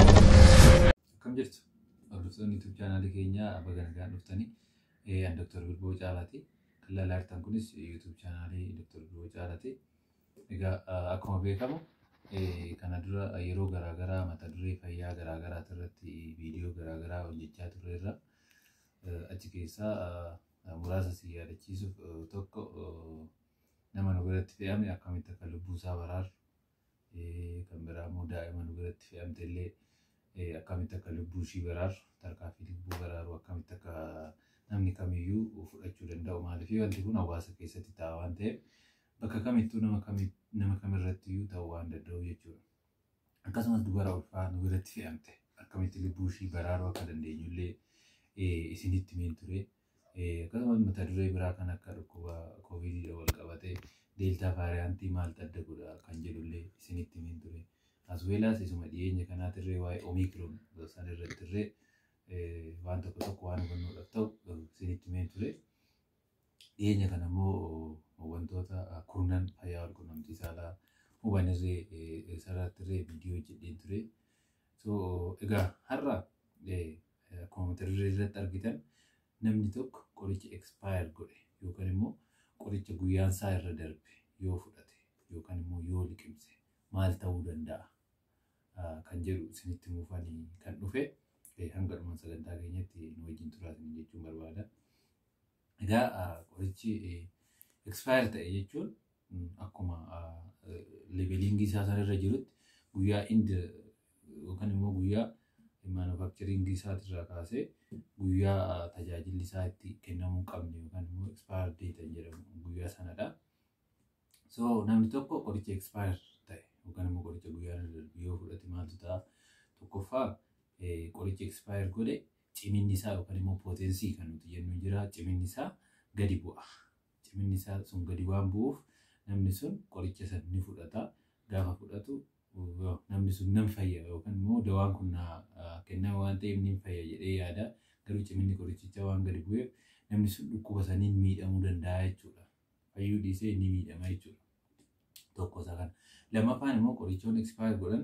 Akkam jirtu? Hordoftoonni YouTube chaanaalii keenyaa baga nagaan dhuftanii. Eh, An Dr. Bilboo Caalaati. Kan ilaalaa jirtan kunis YouTube chaanaalii Dr. Bilboo Caalaati. Egaa ah, akkuma beekamu eh, kana dura yeroo garaagaraa mata duree fayyaa garaagaraa irratti viidiyoo garaagaraa hojjechaa turreerra. Eh, Achi keessaa ah, muraasa si yaadachiisuuf tokko nama nu biratti fe'ame akkamitti akka lubbuu isaa baraaru kan biraa immoo daa'ima nu biratti fe'amte illee akkamitti akka lubbuu ishii baraaru tarkaanfii lubbuu baraaru akkamitti akka namni kamiyyuu fudhachuu danda'u maaliif wanti kun hawaasa keessatti ta'a waan ta'eef bakka kamittuu nama kamirratti iyyuu ta'uu waan danda'u jechuudha. akkasumas dubara ulfaa nu biratti fe'amte akkamitti lubbuu ishii baraaruu akka dandeenyu illee isinitti himeen ture. Akkasumas mata duree biraa kan akka dhukkuba kooviidiidhaan wal qabatee deeltaa vaariyaantii maaltu adda godha kan jedhu illee isinitti himeen ture. Asweelaas isuma dhiyeenya kanaatirree waa'ee omiikiroon san irrattirree waan tokko tokko waan hubannoodhaaf ta'u isinitti himeen ture. Dhiyeenya kana immoo wantoota kurnan fayyaa walqunnamtii saalaa huban irree sarratti irree viidiyoo hojjedheen ture. So egaa har'a akkuma mata duree irratti argitan namni tokko qoricha expire godhe yookaan immoo qoricha guyyaan isaa irra darbe yoo fudhate yookaan immoo yoo liqimse maal ta'uu danda'a kan jedhu isinitti muufanii kan dhufe hanga dhuma sagantaa keenyatti nu wajjin turaatiin jechuun barbaada. Egaa qorichi expire ta'e jechuun akkuma levelingii isaa sanarra jirutti guyyaa ind yookaan immoo guyyaa manufacturing isaatirraa kaasee guyyaa tajaajilli isaa itti kennamuu hin qabne yookaan immoo expire date jedhamu guyyaa sanadha. So namni tokko qoricha expire ta'e yookaan immoo qoricha guyyaa irra darbe yoo fudhate maaltu ta'a? Tokkoffaa qoricha expire godhe Ciminni isaa yookaan immoo pootensii kan nuti jennu jira. Ciminni isaa gadi bu'a. Ciminni isaa sun gadi waan bu'uuf namni sun qoricha san ni fudhata. Gaafa fudhatu namni sun nan fayya yookaan immoo dawaan kun na kenname waan ta'eef ni fayya jedhee yaada. Garuu ciminni qorichichaa waan gadi bu'eef namni sun dhukkuba saniin miidhamuu danda'a jechuudha. fayyuu dhiisee inni miidhama jechuudha. Tokko isa kana. Lammaffaan immoo qorichoonni expire godhan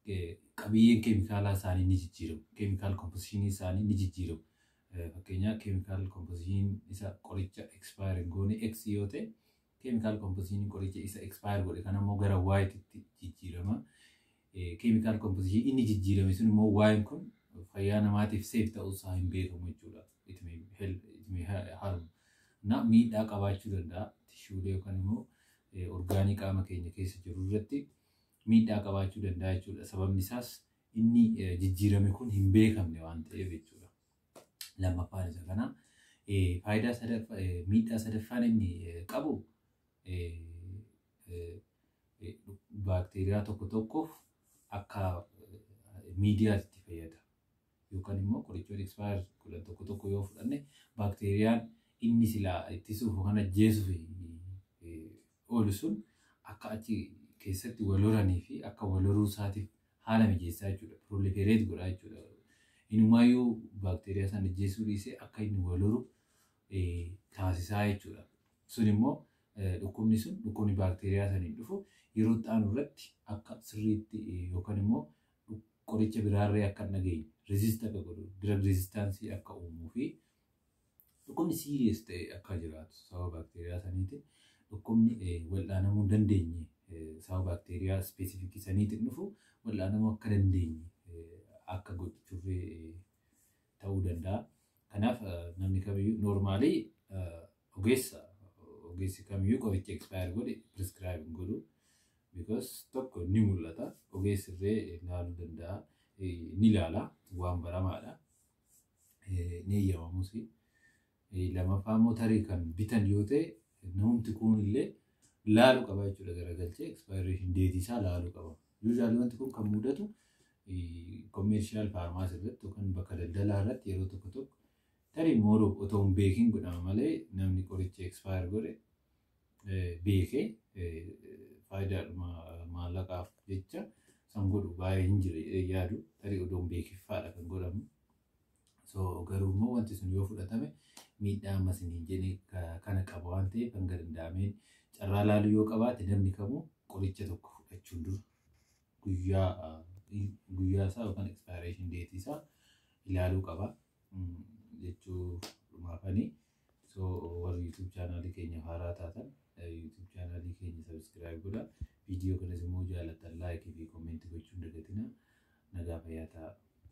eh, qabiyyeen keemikaalaa isaanii ni jijjiiramu. Keemikaal komposishinii isaanii ni jijjiiramu. Eh, Fakkeenyaaf keemikaal komposishiniin isa qoricha expire hin goone X yoo ta'e keemikaal komposishiniin qoricha isa expire godhe kana immoo gara Y tti jijjiirama. chemical composition inni jijjiirame sun immoo waa'een kun fayyaa namaatiif safe ta'uu isaa hin beekamu jechuudha. It may help, it may ha- harm. Na miidhaa qabaachuu danda'a. Tishuulee yookaan immoo eh, orgaanii qaama keenya keessa jiru irratti miidhaa qabaachuu danda'a jechuudha. Sababni isaas inni eh, jijjiirame kun hin beekamne waan ta'eef jechuudha. Lammaffaan isa kana. Eh, Faayidaa sadaffaa, eh, miidhaa sadaffaan inni eh, qabu eh, baakteeriyaa tokko tokkoof akka miidiyaatti itti fayyada. Yookaan immoo qorichoota expire godhan tokko tokko yoo fudhanne baakteeriyaan inni silaa ittisuuf yookaan ajjeesuuf oolu sun akka achi keessatti wal horanii fi akka wal horuu isaatiif haala mijeessaa jechuudha. Proliferate godhaa jechuudha. Inumaayyuu baakteeriyaa sana ajjeesuu dhiisee akka inni wal horu taasisaa jechuudha. Sun immoo dhukkubni sun dhukkubni baakteeriyaa saniin dhufu yeroo itti aanu irratti akka sirriitti yookaan immoo qoricha biraarree akka hin dhageenye resist akka godhu drug resistance akka uumuu fi dhukkubni serious ta'e akka jiraatu sababa baakteeriyaa saniitiin dhukkubni wal'aanamuu hin dandeenye sababa baakteeriyaa ispeesifikii saniitiin dhufu wal'aanamuu akka dandeenye akka gochuuf ta'uu danda'a. Kanaaf namni kamiyyuu noormaalii ogeessa ogeessi kamiyyuu qoricha expire godhe prescribe hin godhu. Because tokko ni mul'ata ogeessi illee ilaaluu danda'a ni ilaala waan baramaadha ni eeyyamamusi. Lamafaa immoo tarii kan bitan yoo ta'e namumti kuun illee laalu qaba jechuudha garagalchee expiration date isaa laalu qaba. Usually wanti kun kan mudatu commercial pharmacy irratti yookaan bakka daldalaa irratti yeroo tokko tokko tarii mooroo otoo hin beekin godhama malee namni qoricha expire godhe beekee faayidaadhuma maallaqaaf jecha san godhu baay'ee hin jira yaadu tarii odoo hin beekiffaadha kan godhamu. So garuu immoo wanti sun yoo fudhatame miidhaa ammas hin hin jene kana qaba waan ta'eef hanga danda'ameen carraa laaluu yoo qabaate namni kamuu qoricha tokko fudhachuun dura guyyaa ah, in- guyyaa isaa yookaan expiration date isaa ilaaluu qaba Mm, jechuu dhumaafanii so warri youtube chaanaalii keenya haaraa taatan eh, youtube chaanaalii keenya subscribe godha viidiyoo kanas immoo jaalatan like fi comment gochuun dagatina nagaa fayyaa ta'aa